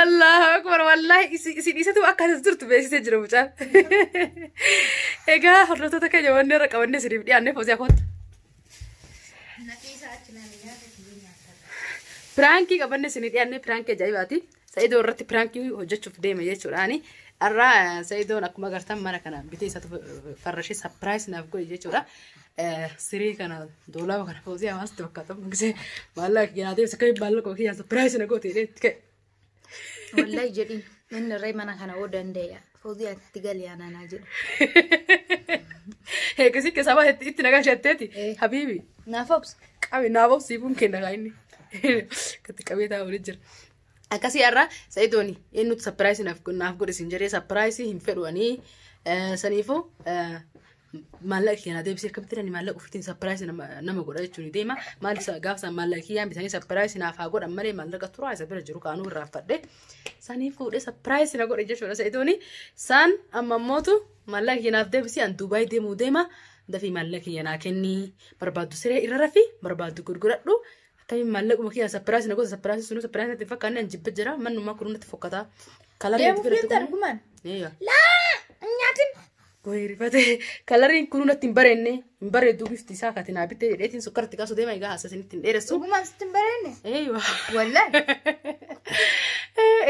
Allahu akbar wallahi isi- isin isatu akka as jirtu beeksisee jira mucaan. Egaa hordoftoota keenya wanni irra qabannee isiniif dhiyaannee foosii akoota. Piraankii qabannee isinii dhiyaannee piraankii ajaa'ibaati. Sa'idoo irratti piraankii hojjechuuf deema jechuudhaani. Har'a eh, Sa'idoon akkuma agartan mana kana bitee isatu farrashee sapiraayis naaf godhe jechuudha. Eh, Sirii kana doolaaba kana foosii hawaasatti fakkaata. Mugisee maallaqa kiyyaa deemsa akka maallaqa kiyyaa sapiraayis na goote jedhee itti ka'e. Wallahi jedhin inni irree mana kana hoo danda'e. Fozii ati itti gali aanaa naa jedhu. Eegasii keessaa baate itti nagaa shatteeti. Eh. Habiibi. Naaf obsa. Qabe naaf obsii kun kenna kaa inni. Katti qabee taa'u waliin jira. Akkasii har'a sa'idooni inni nuti sapiraayisii naaf naaf godhe siin jedhee sapiraayisii hin fedhu ani saniifuu maallaqa kiyya naa deebisee akkamitti ani maallaqa ofiitiin sapiraayis nama godha jechuun deema maal isa gaafa isaan maallaqa kiyyaan bitanii sapiraayis naaf haa godhan malee maallaqa turaa isa bira jiru kaanuu irraa fadhe sanii fuudhee sapiraayis na godhe jechuudha sa'idooni saan amma mootu maallaqa kiyya naaf deebisee an duubaay deemuu deema dafii maallaqa kiyya naa kennii barbaaddu siree irra rafi barbaaddu gurguradhu akkamiin maallaquma kiyya sapiraayis na godha sapiraayis sunuu sapiraayis natti hin fakkaanne an jibba jira mannumaa kun natti fokkata kalarii Deemu natti filatte fiitti kun- argumaan. Eeyyaa. Laa! Nyaatin! Wayii rifatee kalariin kunuu natti hin bareenne hin bareedduu bifti isaa kati naa bittee jedheetiin sukkarratti kaasuu deema egaa haasas inni ittiin dheeressu. Dhugumaan sitti hin bareenne. Eeywa. Wallaan.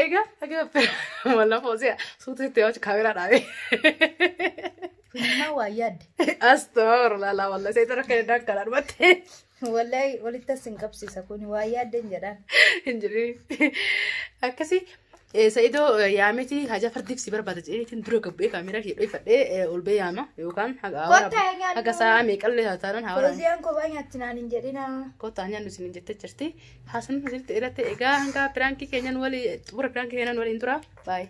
Egaa akka wallaan foosee suutu itti hojii kaameraa dhaabee. Kunimmaa waa yaadde. Astoor laalaa wallaan seetan akka danda'a karaa dhumattee. Wallahi walitti as hin qabsiisa kun waa yaadden jedhaan. Hin jirri. Akkasi sa'idoo yaamiti haja fardiif si barbaada jedheetiin dura gabbee kaameeraa ishee dhoofadhee ol bee yaama yookaan haga Kottaa hin nyaannu. haga sa'a meeqallee haa taanan haa waraabnu. Foziyan kophaa nyaatti naan hin jedhina. Kottaa nyaannu isin hin jettee jirti. Haasan asirratti irratti egaa hanga piraankii keenyan walii xumura piraankii keenyan waliin tura. Baay'ee.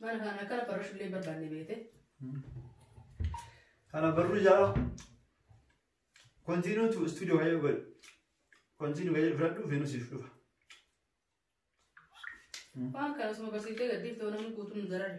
Mana kana akkana barreessu illee barbaanne beete. Kana barruu jala continue to studio kayyoo godhe. Continue kayyoo fudhadhu Venus siif dhufa. Waan kana osuma barsiisee gaddiif ta'u namni guutuun hin darare.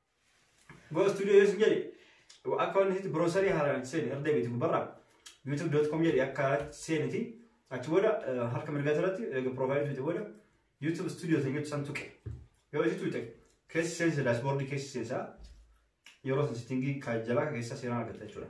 Go studio yesu jedhe akka wanni sitti browserii haaraan itti seeni irra deebiitu gubbarra youtube.com jedhe akka seeniti achi booda eh, harka mirgaa irratti eega profaayilii tuqxe booda youtube studio ta'e jechu san tuqe yoo itti tuqxe keessi seensa daashboordii keessi seensa yeroo san sittingii kan jalaa keessaa seeraan argatta jechuudha.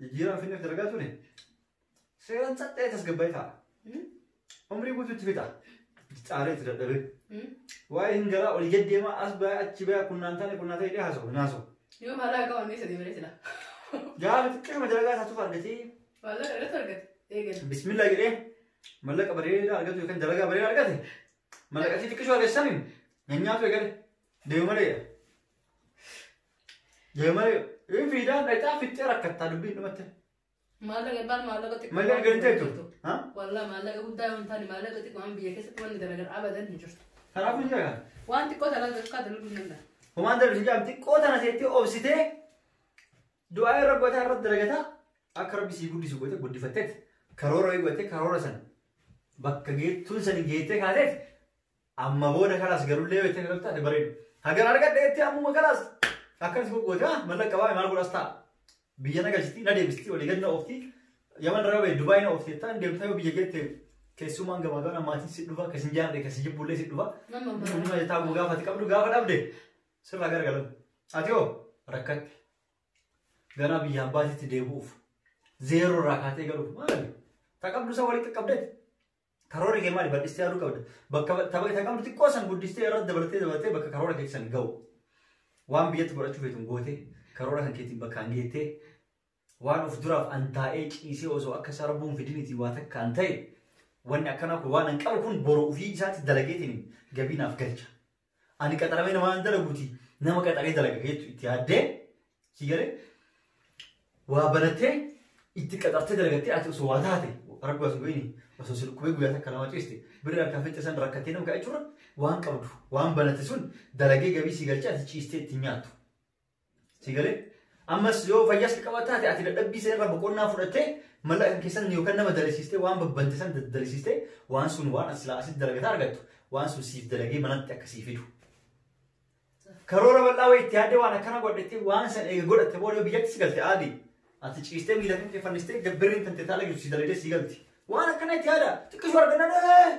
Jijjiirama finneef dalagaa ture seeraan caccee tasgabbaa'ee ta'a. Umrii guutuu itti fixa. Itti caalee itti dadhabee. Waa'ee hin garaa olii gad deemaa as ba'aa achi ba'aa kunnaan taane kunnaan ta'e dhee haasa'u hin haasa'u. Yoo maalaa qabu inni sadii malee sila. Gaafa xiqqeema dalagaa isaatuuf argatee Maalaa irratti argate. Eegalu. bismillaa jedhee mallaqa bareedaa argatu yookaan dalagaa bareedaa argate mallaqatti xiqqishoo argachaniin nyaanyaatu eegale deemu malee Deemaa yoo fiidaan dhaqaa fixxee rakkattaa dubbiin dhumatti. Maallaqa baal maallaqa xiqqoo. Malee waan argantee jirtu. jirtu. Ha? Wallah maallaqa guddaa yoo hin taane maallaqa xiqqoo waan biyya keessatti wanni garagar abadan hin jirtu. Kanaafuu hin jagaan. Waan xiqqoo talaan dafqaa dalaguu hin danda'an. Homaan darbiin jaam xiqqoo tana seettee obsitee du'aa irra gotaa irra dalagataa akka rabbi sii guddisu gote guddifatteet karoora eeggate karoora san bakka geettuun san geettee kaateet Amma booda kalaas garullee yoo itti galta ati bareedu. Hagan argadhe itti ammuma kalaas. Akkanis gogooti haa mallaqa baay'ee maal godhas ta'a. Biyya na galchiti na deebisti walii gad na oofti. Yaman irraa bahe Dubaay na oofti ta'an deemta yoo biyya keetti keessumaan gamaa gamaa maatiin si dhufa akkasiin jaalladhe akkasii jibbullee si dhufa. Nama mara. Nama jetaa guu gaafa ati qabdu gaafa dhabde sirraa gargalan. Ati hoo rakkatte. Ganaa biyya abbaatitti deebi'uuf. Zeeroo irraa kaatee galuuf maali? Ta qabdu isa walitti qabdeeti. Karoora kee maali? Bal'istee yaaduu qabda. Bakka tapha isa qabdu xiqqoo san guddistee irratti dabaltee dabaltee bakka karoora kee san ga'u. Waan biyyatti godhachuu feetu gootee karoora kan keetiin bakkaan geettee waan of duraaf an taa'ee ciisee osoo akka isaa rabbuun fidinitii waa takka an ta'e wanni akkanaa kun waan an qabu kun boru ofii isaatti dalageetiin gabii naaf galcha. Ani qaxaramee nama hin dalaguuti nama qaxaree dalaga keetu itti yaaddee si galee waa barattee itti qaxartee dalagattee ati osoo waa taate rabbi waa subiini osoo si dhukkubee guyyaa takka lama ciiste birri harkaa fitte san rakkattee nama ga'a jechuudha waan qabdu waan banatte sun dalagee gabii si galchee ati ciistee itti nyaattu. Si galee? Ammas yoo fayyaas qabaata taate ati dadhabbii sana irraa boqonnaa fudhattee mallaqa keessan yookaan nama dalisiistee waan babbante san dalisiistee waan sun waan as silaa asitti dalagataa argattu waan sun siif dalagee manatti akka sii fidu. Karoora bal'aa wayii itti yaadde waan akkana godhatte waan san eega godhatte booda yoo biyyatti si galte aadi. Ati ciistee miila kan kee fannistee birriin tante taala jirtu si dalagdee si galti. Waan akkana itti yaada xiqqisuu argannaan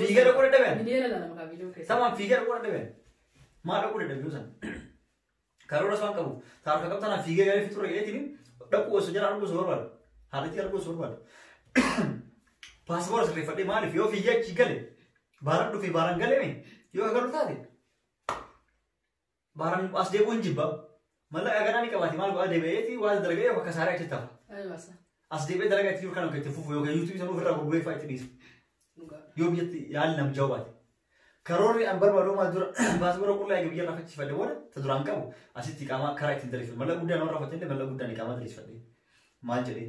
Fiigaa dhaquu dadhaban. Miliyoona lama maqaa viidiyoo keessa. Samaan fiigaa dhaquu dadhaban. Maal dhaquu dadhaban san? Karoora isaan qabu. Taarika qabtanaa fiigaa gaarii fixuu dhaqeetiin dhaquu osoo jala arguu osoo barbaadu. Haalitti arguu osoo barbaadu. Paaspoora sirreeffadhee maaliif yoo fiigaa achi gale baaraan dhufee baaraan galeme yoo agarru taate Baaraan as deebi'uun jibba. Mallaqa ganaa ni qabaate maal godhaa deebi'eeti waan dalaga'ee akka saaree achitti hafa. Aywa sa. As deebi'ee dalagaa itti jiru kan akka itti fufu yookaan yuutuubii sanuu ofirraa gurguree fa'aa itti dhiisu. Dhugaa. Yoo biyyatti yaalli nam jawaate. Karoorri an barbaadu maal dura baasii warra qullaa eega biyya irraa faccifadhe booda ta duraan qabu asitti qaamaa karaa ittiin daleeffadhe. Mallaqa guddaa namarraa faccifadhe mallaqa guddaa ni qaamaa daleeffadhe. Maal jedhee?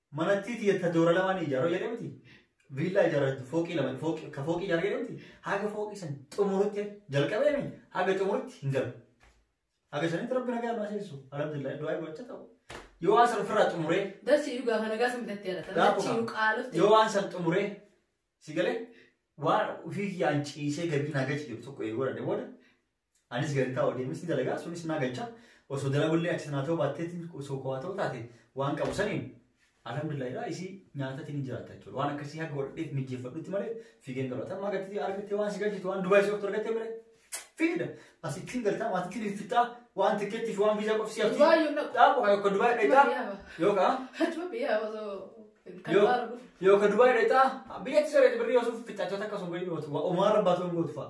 Manattii tiyya ta doora lamaa ni ijaaroo jedhee miti. Viillaa ijaaroo fooqii lama fooqii ka fooqii ijaaroo jedhee miti. Haga fooqii san xumurutti jalqabee mi haga xumurutti hin galu. Haga sanitti rabbi nagaa nu aseessu. Alhamdulillah du'aa gocha ta'u. Yoo waan san ofirraa xumuree Darsi dhugaa kana gaafa bitattee dha. Gaafa Darsi kana. qaalofte. yoo waan san xumuree si galee waan ofii kiyyaan ciisee gadi nagaa ciisu tokko eeguu danda'e booda Anis gadi taa'u deemes ni dalagaa sunis naa galcha osoo dalagullee achi sanaa ta'uu baatteetti osoo kowaa ta'uu taate waan qabu saniin alhamdulillah irraa isii nyaatatti ni jiraatta jechuudha waan akkasii haga godhadheef mijjeeffadhutti malee fiigeen galu atamma gatti argattee waan si galchitu waan dubaayii sooftu argattee malee fiida asittiin galtaa maatitti ni fixaa waan tikkeetti fi waan viizaa qofsi hafti Dubaayii hin dhaqu. dhaabu kan yookaan dubaayii dheetaa yookaan Achuma biyya osoo kan Yoo- baaru dhufu. yookaan dubaayii dheetaa biyyatti sirreetti birrii osoo fixaachota akkasuma bayyuu gootu waan rabbaatu hin gootu fa'a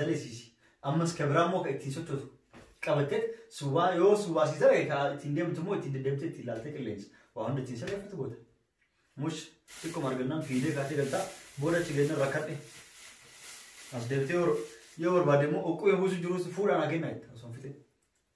dalesisi ammas ka biraa immoo ka ittiin sochootu qabatteet suwaa yoo suwaa si ta'e ka ittiin deemtu immoo ittiin deddeemtee ittiin ilaaltee qilleensa waa hunda ittiin sirreeffatu goota. Mush xiqquma argannaan fiidee kaatee galtaa booda achi geennan rakkadhe. As deebitee yoo barbaade immoo oqquu yoo buusu jirus fuudhaan haa kennaa jetta osoo hin fixin.